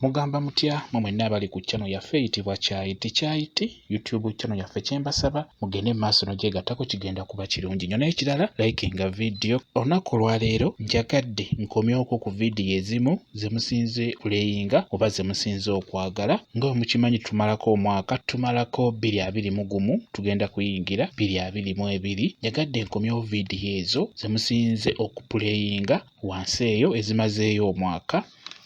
Mugamba mutya mwe mwenna abali ku channel yaffe eyitibwa Kyayi Tikyayi ti YouTube channel yaffe kyembasaba mugende maaso nogyegattako kigenda kuba kirungi nyo n'ekirala likinga video olunaku olwaleero njagadde nkomyoko ku vidiyo ezimu zemusinze kuleyinga oba zemusinze okwagala nga wemukimanyi tumalako omwaka tumalako bbiri abiri mu gumu tugenda kuyingira bbiri abiri mu ebiri njagadde nkomyewo vidiyo ezo zemusinze okupuleyinga wansi eyo ezimazeeyo omwaka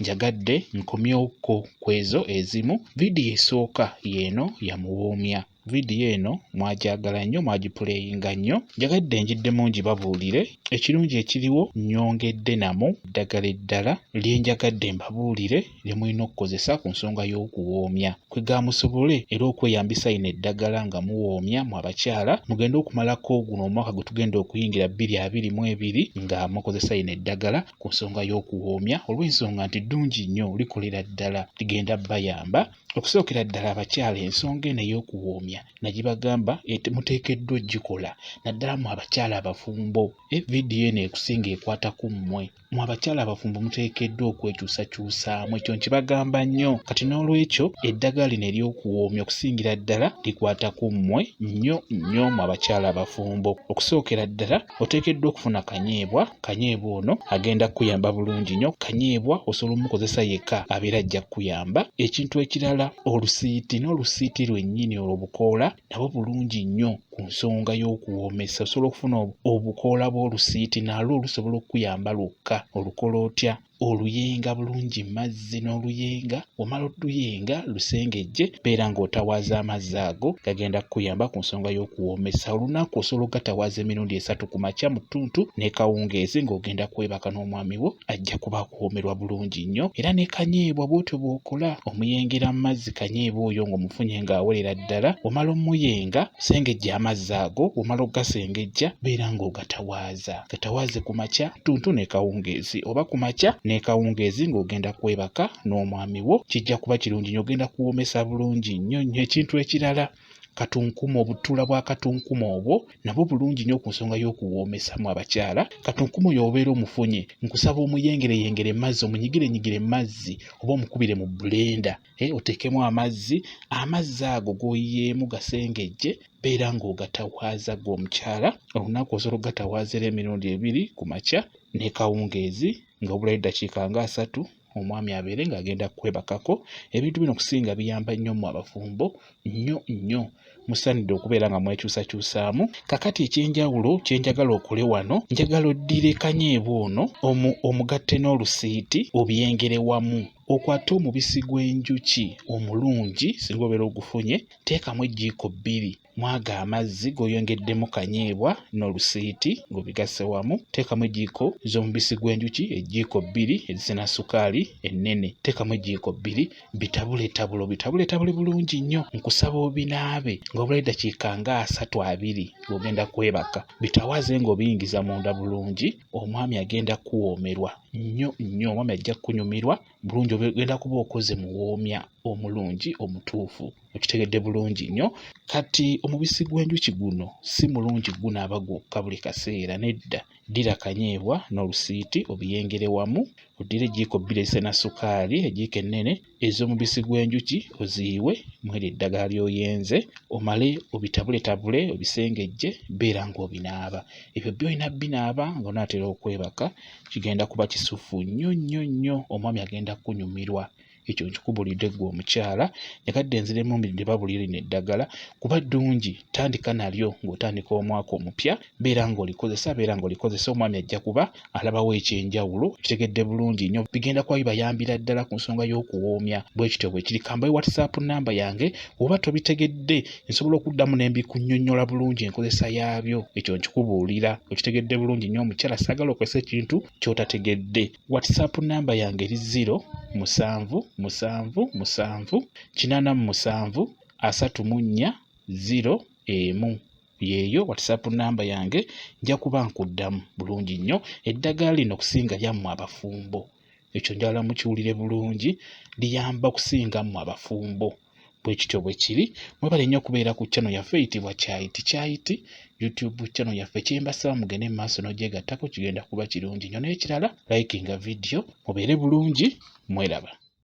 Njagadde nkomyewokko kwezo ezimu. Vidiyo esooka yeeno yamuwoomya. Vidiyo eno mwagyagala nnyo, mwagipuleyinga nnyo. Njagadde njiddemu ngibabuulire. Ekirungi ekiriwo nnyongedde namu eddagala eddala lye njagadde mbabuulire lye mulina okukozesa ku nsonga y'okuwoomya. Kwegamba musobole era okweyambisa lino eddagala nga muwoomya mwe abakyala mugende okumalako guno omwaka gwe tugenda okuyingira bbiri abiri mu ebiri nga mukozesa lino eddagala ku nsonga y'okuwoomya olw'ensonga nti ddungi nnyo likolera ddala ligenda bayamba okusookera ddala abakyala ensonga eno ey'okuwoomya na gye bagamba muteekeddwa okugikola naddala mu abakyala abafumbo e vidiyo eno ekusinga ekwata ku mmwe mu abakyala abafumbo muteekeddwa okwekyusakyusaamu ekyo nkibagamba nnyo kati n'olwekyo eddagala lino ery'okuwoomya okusingira ddala likwata ku mmwe nnyo nnyo mu abakyala abafumbo okusookera ddala oteekeddwa okufuna kanyeebwa kanyeebwa ono agenda kukuyamba bulungi nnyo kanyeebwa osobola omukozesa yekka abeera ajja kukuyamba ekintu ekirala olusiiti n'olusiiti lwennyini olwo bukoola nabwo bulungi nnyo ku nsonga y'okuwoomesa osobola okufuna obukoola bw'olusiiti nalwo lusobola okukuyamba lwokka olukola otya oluyenga bulungi mazzi n'oluyenga omala oluyenga lusengejje beera ng'otawaaza amazzi ago gagenda kukuyamba ku nsonga y'okuwoomesa olunaku osobola ogatawaaza emirundi esatu ku makya mu ttuntu ne kawungeezi ng'ogenda kwebaka n'omwami wo ajja kuba akuwoomerwa bulungi nnyo era ne kanyeebwa bw'otyo bw'okola omuyengera mu mazzi kanyeebwa oyo ng'omufunye ng'awerera ddala omala omuyenga sengejja amazzi ago omala ogasengejja beera ng'ogatawaaza za katawaazi ku makya ttuntu n'ekawungeezi oba ku makya n'ekawungeezi ng'ogenda kwebaka n'omwami wo kijja kuba kirungi nyo ogenda kuwoomesa bulungi nnyo nnyo ekintu ekirala katunkumu obutuula bwa katunkumu obwo nabwo bulungi nnyo ku nsonga y'okuwoomesamu abakyala katunkumu oyo obeera omufunye nkusaba omuyengereyengere mazzi omunyigirenyigire mazzi oba omukubire mu bulenda eh, oteekemu amazzi amazzi ago g'oyiyeemu gasengejje beera ng'ogatawaaza gwe omukyala olunaku osobola okugatawaazaera emirundi ebiri ku makya ne kawungeezi nga obulayo eddakiika nga asatu omwami abeere ng'agenda kwebakako ebintu bino okusinga biyamba nnyo mu abafumbo nnyo nnyo musaanidde okubeera nga mwekyusakyusaamu kakati ekyenjawulo kyenjagala okole wano njagala oddire kanyeebwa ono omu omugatte n'olusiiti obyengere wamu okwate omubisi gw'enjuki omulungi singa obeera ogufunye teekamu ejjiiko bbiri mwaga amazzi g'oyongeddemu kanyeebwa n'olusiiti ng'obigasse wamu teekamu ejjiiko z'omubisi gw'enjuki ejjiiko bbiri ezisena sukaali ennene teekamu ejjiiko bbiri bitabuletabule obitabuletabule bulungi nnyo nkusaba obinaabe nga obulayo eddakiika nga asatu abiri ng'ogenda kwebaka bitawaze ng'obiyingiza munda bulungi omwami agenda kuwoomerwa nnyo nnyo omwami ajja kukunyumirwa bulungi ogenda kuba okoze muwoomya omulungi omutuufu okitegedde bulungi nnyo kati omubisi gw'enjuki guno si mulungi gunaaba gwokka buli kaseera nedda Ddira akanyeebwa n'olusiiti obiyengere wamu. Oddire ejjiiko bbiri ezisena ssukaali, ejjiiko ennene ez'omubisi gw'enjuki oziyiwe mw'eryo eddagala ly'oyenze omale obitabuletabule obisengejje beera ng'obinaaba. Ebyo byo olina binaaba ng'onaatera okwebaka kigenda kuba kisuffu nnyo nnyo nnyo omwami agenda kunyumirwa. ekyo nkikubulidde gwe omukyala nekadde enzira emumbi ndibabulire lino eddagala kuba ddungi tandika nalyo ng'otandika omwaka omupya beera ng'olikozesa beera ng'olikozesa omwami ajja kuba alabawo ekyenjawulo kitegedde bulungi nnyo bigenda kuba bibayambira ddala ku nsonga y'okuwoomya bwe kityo bwe kiri kambayo whatsapp namba yange oba tobitegedde nsobola okuddamu ne mbikunnyonnyola bulungi enkozesa yaabyo ekyo nkikubuulira okitegedde bulungi nnyo omukyala saagala okozesa ekintu ky'otategedde WhatsApp namba yange eri ziro musanvu musanvu musanvu kinaana mu musanvu asatu mu nnya ziro emu yeeyo WhatsApp namba yange nja kuba nkuddamu bulungi nnyo eddagala lino okusinga lyammwe abafumbo ekyo njagala mukiwulire bulungi liyamba okusinga mmwe abafumbo bwekityo bwekiri mwebale nnyo okubeera ku channel yaffe eyitibwa kyayiti kyayiti youtube channel yaffe kyembasaba mugende mu maaso n'ogyegattako kigenda kuba kirungi nnyo n'ekirala likinga vidiyo mubeere bulungi mweraba